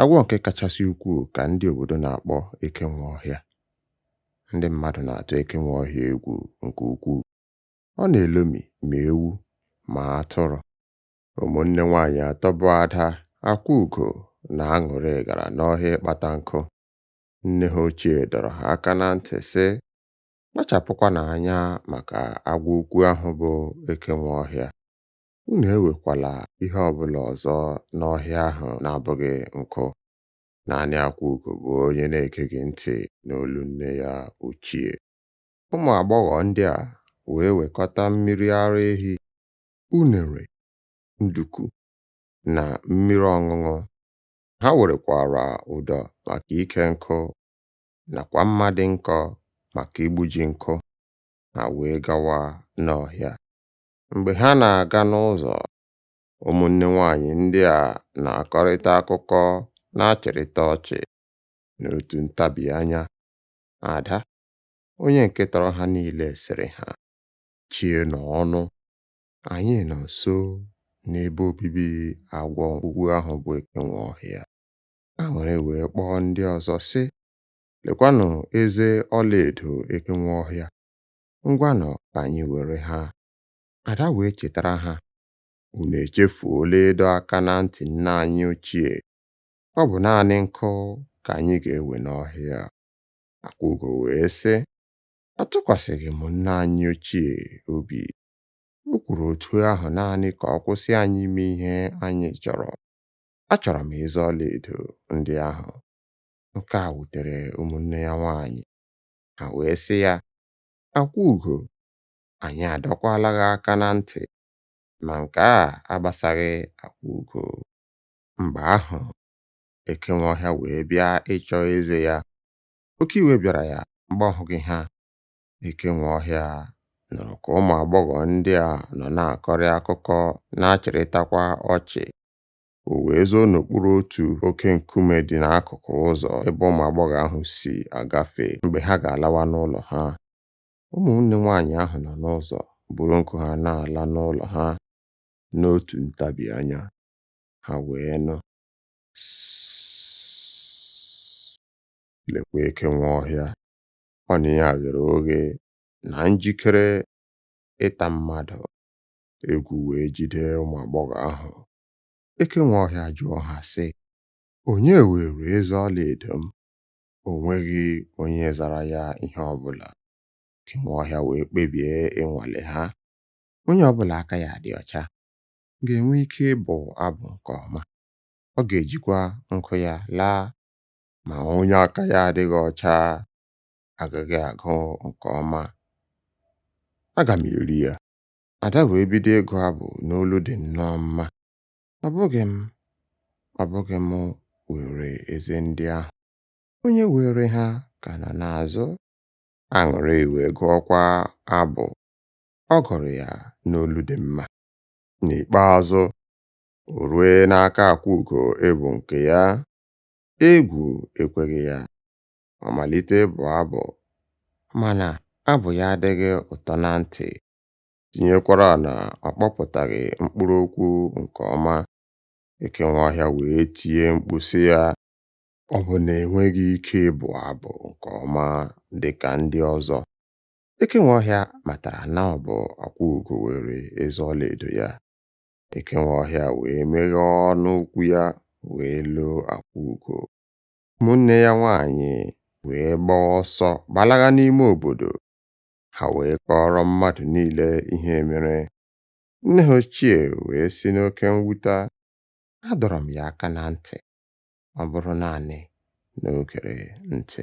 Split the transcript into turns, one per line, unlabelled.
Agwọ nke kachasị ukwuu ka ndị obodo na-akpọ eke nwe ọhịa. Ndị mmadụ na-atụ eke nwe ọhịa egwu nke ukwuu. Ọ na-elomi ma ewu ma atụrụ. Ụmụnne nwaanyị atọ bụ Ada, Akwaugo na Aṅụrị gara n'ọhịa ịkpata nkụ. Nne ha ochie dọrọ ha aka na ntị sị, kpachapụkwanụ anya maka agwọ ukwu ahụ bụ eke nwe ọhịa. Unu ewekwala ihe ọ bụla ọzọ n'ọhịa ahụ na-abụghị nkụ. Naanị Akwaugo bụ onye na-egeghị ntị n'olu nne ya ochie. Ụmụ agbọghọ ndị a wee wekọta mmiri ara ehi, unere, nduku, na mmiri ọṅụṅụ. Ha werekwara ụdọ maka ike nkụ nakwa mma dị nkọ maka igbuji nkụ. Ha wee gawa n'ọhịa. Mgbe ha na-aga n'ụzọ, ụmụnne nwaanyị ndị a na-akọrịta akụkọ na-achịrịta ọchị. N'otu ntabi anya, Ada, onye nke tọrọ ha niile, sịrị ha, Chienụ ọnụ, anyị nọ nso n'ebe obibi agwọ nke ukwu ahụ bụ eke nwe ọhịa. Aṅụrị wee kpọọ ndị ọzọ sị, Lekwanụ eze ọlaedo eke nwe ọhịa. Ngwanụ ka anyị were ha. Ada wee chetara ha, Unu echefuola ịdọ aka na ntị nne anyị ochie. Ọ bụ naanị nkụ ka anyị ga-ewe n'ọhịa. Akwaugo wee sị, Atụkwasịghị m nne anyị ochie obi. O kwuru otu ahụ naanị ka ọ kwụsị anyị ime ihe anyị chọrọ. Achọrọ m eze ọlaedo ndị ahụ. Nke a wutere ụmụnne ya nwaanyị. Ha wee sị ya, Akwaugo, anyị adọkwala gị aka na ntị, ma nke a agbasaghị Akwaugo. Mgbe ahụ, eke nwe ọhịa wee bịa ịchọ eze ya. Oke iwe bịara ya mgbe ọ hụghị ha. Eke nwe ọhịa nụrụ ka ụmụ agbọghọ ndị a nọ na-akọrịta akụkọ na-achịrịtakwa ọchị. o wee zoo n'okpuru otu oke nkume dị n'akụkụ ụzọ ebe ụmụ agbọghọ ahụ si agafe mgbe ha ga-alawa n'ụlọ ha. Ụmụnne nwaanyị ahụ nọ n'ụzọ buru nkụ ha na-ala n'ụlọ ha n'otu ntabi anya, ha wee nụ lekwa eke nwe ọhịa ọnụ ya ghere oghe na njikere ịta mmadụ. Egwu wee jide ụmụ agbọghọ ahụ Eke nwe ọhịa jụọ ha sị, Onye weere eze ọlaedo m? O nweghị onye zara ya ihe ọ bụla. Eke nwe ọhịa wee kpebie ịnwale ha. Onye ọ bụla aka ya dị ọcha ga-enwe ike ịbụ abụ nke ọma. Ọ ga-ejikwa nkụ ya laa. Ma onye aka ya adịghị ọcha agaghị agụ nke ọma. Aga m eri ya. Ada wee bido ịgụ abụ n'olu dị nnọọ mma. Ọ bụghị m, ọ bụghị m weere eze ndị ahụ. Onye weere ha ka nọ n'azụ. Aṅụrị wee gụọkwa abụ. Ọ gụrụ ya n'olu dị mma. N'ikpeazụ, o ruo n'aka Akwaugo ịbụ nke ya. Egwu ekweghị ya. Ọ malite ịbụ abụ, mana abụ ya adịghị ụtọ na ntị. tinyekwara na ọ kpọpụtaghị mkpụrụ okwu nke ọma. Eke nwe ọhịa wee tie mkpu sị ya, Ọ bụ na i nweghị ike ịbụ abụ nke ọma dị ka ndị ọzọ? Eke nwe ọhịa matara na ọ bụ Akwaugo were eze ọlaedo ya. Eke nwe ọhịa wee meghee ọnụ ukwu ya wee loo Akwaugo. Ụmụnne ya nwaanyị wee gbaa ọsọ gbalaga n'ime obodo. ha wee kọọrọ mmadụ niile ihe mere. Nne ha ochie wee sị n'oke mwute, Adọrọ m ya aka na ntị, ọ bụrụ naanị na o gere ntị.